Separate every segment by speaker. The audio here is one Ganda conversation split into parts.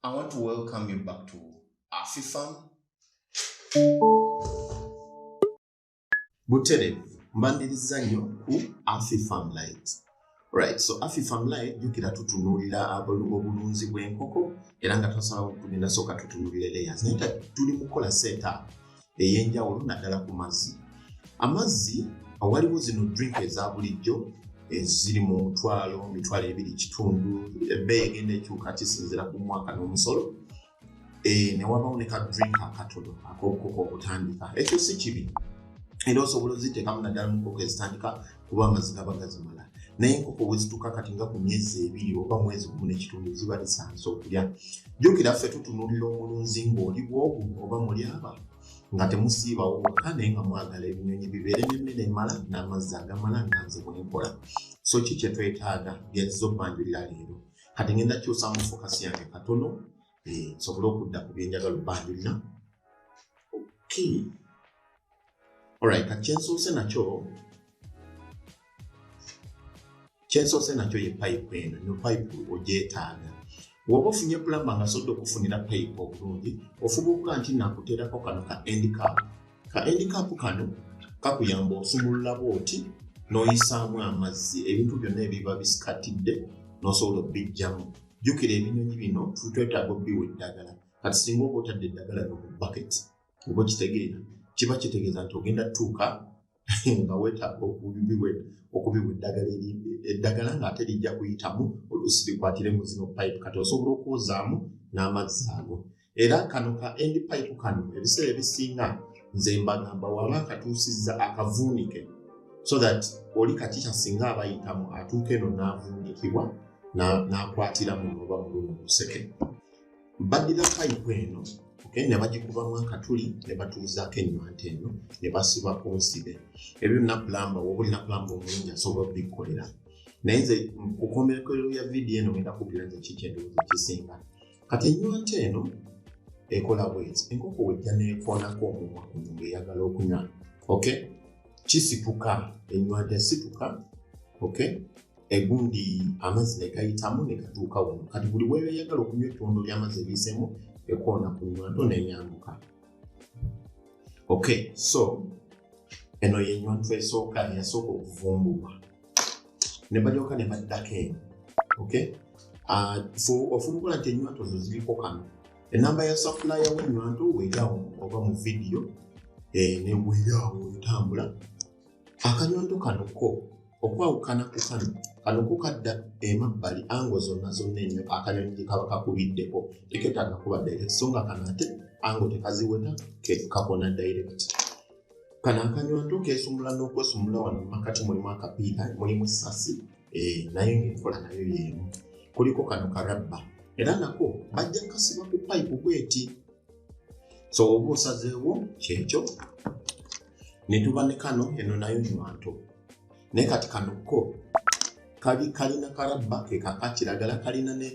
Speaker 1: I want to welcome you back to Afifam. Butere, mbandirizza nnyo ku Afifam Light. Right, so Afifam Light jjukira tutunuulira obulunzi bw'enkoko era nga twasalawo tugenda sooka tutunuulira layers naye tuli mu kukola setup ey'enjawulo naddala ku mazzi amazzi awaliwo zino drink eza bulijjo eziri mu mutwalo mitwalo ebiri kitundu ebbeeyi egenda ekyuka kisinzira ku mwaka n'omusolo eh, newabawo ne ka drink akatono ak'obukoka okutandika ekyo si kibi era osobola oziteekamu naddala mu nkoko ezitandika kuba amazzi gaba gazimala naye enkoko bwezituka kati nga ku myezi ebiri oba mwezi gumu nekitundu ziba lisansa okulya jukira ffe tutunulira omulunzi ngaoli bwogu oba muli aba nga temusiibawo wokka naye nga mwagala ebinyonyi bibeere nemmere emala n'amazzi agamala nga nze bwenkola so ki kyetwetaaga byaziza obbanjulira leero kati ngenda kyusa mu fokasi yange katono eh, nsobole okudda ku byenjagala obbanjulira okay Alright, kati kyensoose nakyo kyensoose nakyo ye pipe eno no pipe ogyetaaga woba ofunye pulamba nga soda okufunira pipe obulungi ofuba okuga nti nakuteerako kano ka endcap ka endcap kano kakuyamba osumululabo oti noyisaamu amazzi ebintu byonna ebiba bisikatidde nosobola obijjamu jukira ebinyonyi bino twetaaga obiwa eddagala kati singa oba otadde eddagala no mu baketi oba okitegeera kiba kitegeeza nti ogenda tuuka nga wetaaga okubiwa eddagala eddagala ngaate lijja kuyitamu oluusi likwatire mu zino pipe kati osobola okwozaamu n'amazzi ago era kano ka end pipe kano ebiseera ebisinga nze mbagamba waba akatuusizza akavuunike so that oli kati kyasinga abayitamu atuuka eno n'avuunikibwa n'akwatiramu oba mulumu luseke badira payipu eno okay, ne bagikubamu akatuli ne batuuzaako enywanta eno ne basiba ku nsibe ebyo napulamba woba oli napulamba omulungi asobola okubikkolera naye nze kukomberekero ya vidiyo eno ngenda kubira nze kiki endowooza ekisinga kati enywanta eno ekola bwezi enkoko wejja neekoonako omumwa kuno ngaeyagala okunywa okay? kisituka enywanta esituka okay? egundi amazzi ne gayitamu ne gatuuka wano kati buli weeyagala okunywa ettondo ly'amazzi ebiisemu ekoona ku nywanto neyambuka ok so eno yenywanto esooka eyasooka okuvumbulwa ne balyoka ne baddako eno ok ah, ofulukula nti enywanto zo ziriko kano enamba ya safulaya wenywanto weerawo oba mu vidiyo eh, newerawo etambula akanyondo kano ko okwawukana ku kano kano ko kadda emabbali ango zonna zonna enyo akanyonyi gyekaba kakubiddeko teketaaga kuba direct so nga kano ate ango tekaziweta kakona direct kano akanyondo kesumula n'okwesumula wano mumakati mulimu akapiira mulimu sasi eh, naye ngaenkola nayo yeemu kuliko kano karabba era nako bajja kasiba ku payipu bweti so oba osazeewo kyekyo netuba ne kano eno nayo nywanto naye kati kano ko kali kalina karabba kekakakiragala kalina ne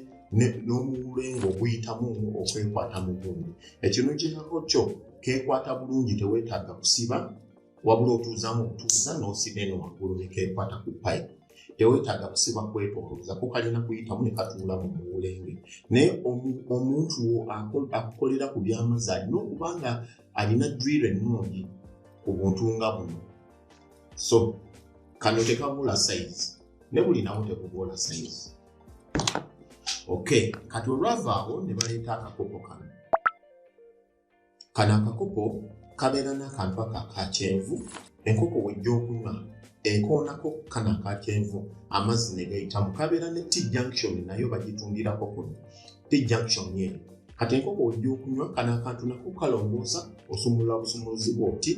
Speaker 1: n'omuwulenga oguyitamu omu okwekwata mu gundi ekino kirako kyo kekwata bulungi teweetaaga kusiba wabula otuuzamu obutuuza n'osiba eno waggulu nekeekwata ku pipe tewetaaga kusiba kwetolooza kukalina kuyitamu ne katuula mu muwulenge naye omuntu wo akukolera ku byamazzi alina okuba nga alina drill ennungi ku buntu nga buno so kano tekabula sayizi ne buli nawo tekubula sayizi ok kati olwavaawo ne baleeta akakopo kano Kano akakopo kabeera n'akantu ako aka kyenvu enkoko wejja okunywa ekoonako kano aka kyenvu amazzi ne gayitamu kabeera ne t junction nayo bagitundirako kuno t junction eno kati enkoko wejja okunywa kano akantu nako kalongoosa osumulula busumuluzi bwoti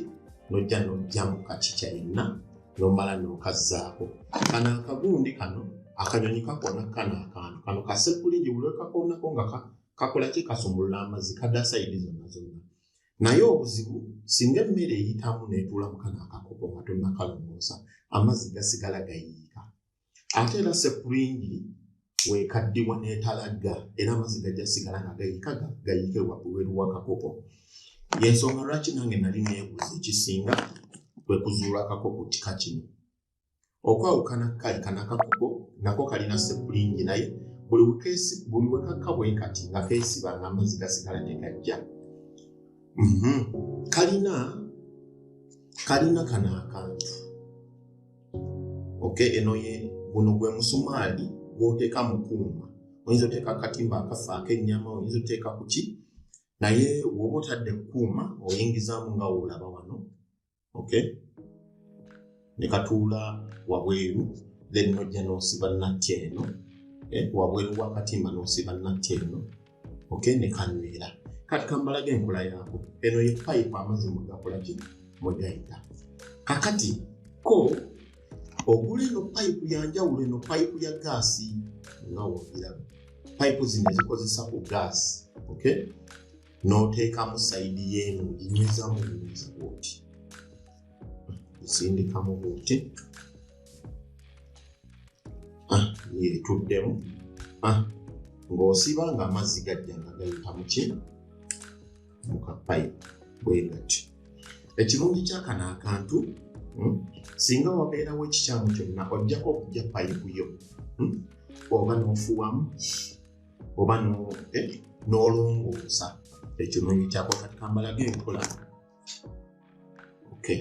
Speaker 1: nojja nojjamu kakica yenna nomala nokazzaako kano akagundi kano akanyonyi kakoona kano akantu kano kasekuligi bulwekakoonako nga kakola ki kasumulula amazzi kada saidi zonna zonna naye obuzibu singa emmere eyitamu netuula mukana akakopo nga tonakalongoosa amazzi gasigala gayiika ate era sepulingi wekaddiwa netalagga era amazzi gajja sigala nga gayiika gayiike wabweru wakakopo yensonga lwaki nange nali nebuuza ekisinga kwekuzuula akakopo kika kino okwawukana kali kanakakuko nako kalina sepulingi naye buli wekakka bwekati nga kesiba nga amazzi gasigala tegajja mhm. kalina kalina kano akantu ok eno ye guno gwe musumaali gwoteeka mu kuuma oyinza oteeka akatimba akafa akenyama oyinza oteeka kuki naye woba otadde kukuuma oyingizamu nga woolaba wano okay ne katuula wabweru then nojja nosiba natti eno eh, wabweru wakatimba nosiba natti eno okay ne kanywera kati kambalaga enkola yaako eno ye pipe amazzi mugakolaki mwegayita kakati ko ogula eno pipe yanjawulo eno pipe ya gaasi nga wogiraba pipe zino zikozesa ku gaasi okay n'oteekamu sayidi yeeno oginyweza mu buyinza bwoti osindikamu bwoti ah, yetuddemu ah, ng'osiba nga amazzi gajja nga gayita muki mu kapayipu bwe gatyo ekirungi kyakano akantu hmm, singa wabeerawo ekikyamu kyonna ojjako okujja payipu yo hmm, oba n'ofuwamu oba n'olongoosa eh, ekyo nonyi kyako kati kambalaga enkola okay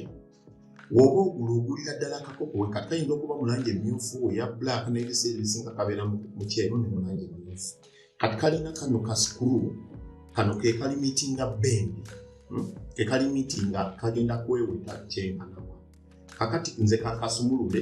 Speaker 1: woba ogula ogulira ddala kakoko we kati kayinza okuba mulangi emyufu eya black n'ebiseera ebisinga kabeera mu kyeru ne mulangi emyufu kati kalina kano ka sikulu kano ke kali mitinga bendi hmm? ke kali mitinga kagenda kweweta kyenkanawa kakati nze kakasumulule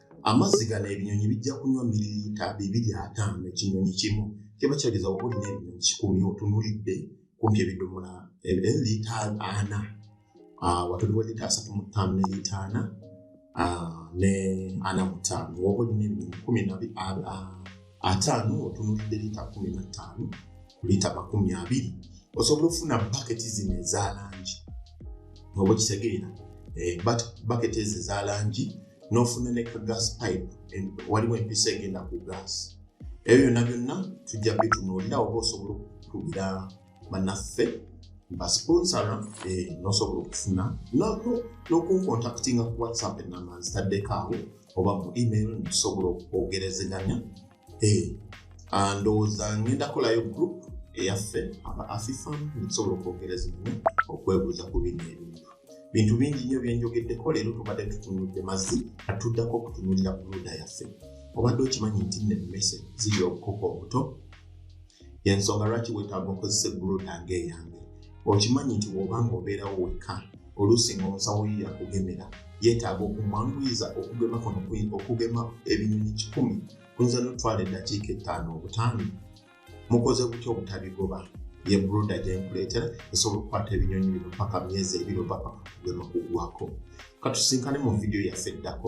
Speaker 1: amazzi gano ebinyonyi bijja kunywa miliyita bibiri ataano ekinyonyi kimu kiba kyageza oba olina ebinyonyi kikumi otunulidde kumpi ebidomola lita ana ah, watuliwo lita asatu mu ttaano ne lita ana ah, ne ana mu ttaano oba olina ebinyonyi kumi na ah, ataano otunulidde liita kumi na ttaano ku liita makumi abiri osobola okufuna baketi zino eza langi oba okitegeera eh, baketi ezo eza langi n'ofuna ne ka gas pipe waliwo empisa egenda ku gas ebyo byonna byonna tujja bitunuulira oba osobola okukubira banaffe basponsora eh, nosobola okufuna nokunkontaktinga ku whatsapp enamba nzitaddeko awo oba mu email ntusobola okwogerezeganya eh, ah, ndowooza ngenda kolayo group eyaffe aba afifam ntusobola okwogerezeganya okwebuuza ku bino ebintu bintu bingi nnyo byenjogeddeko leero tubadde tutunudde mazzi atuddako okutunulira buluda yaffe obadde okimanyi nti nemmese ziri obukoka obuto yensonga lwaki wetaaga okozesa ebbuluda ngaeyange okimanyi nti woba nga obeerawo wekka oluusi nga omusawo yo yakugemera yetaaga okumwanguyiza okugema kuno okugema ebinyonyi kikumi kuyinza notwala eddakiika ettaano obutaano mukoze butya obutabigoba ye bruda gyenkuleetera esobola okukwata ebinyonyi bino paka myezi ebiri oba paka kugema kugwako katusinkane mu vidiyo yaffe eddako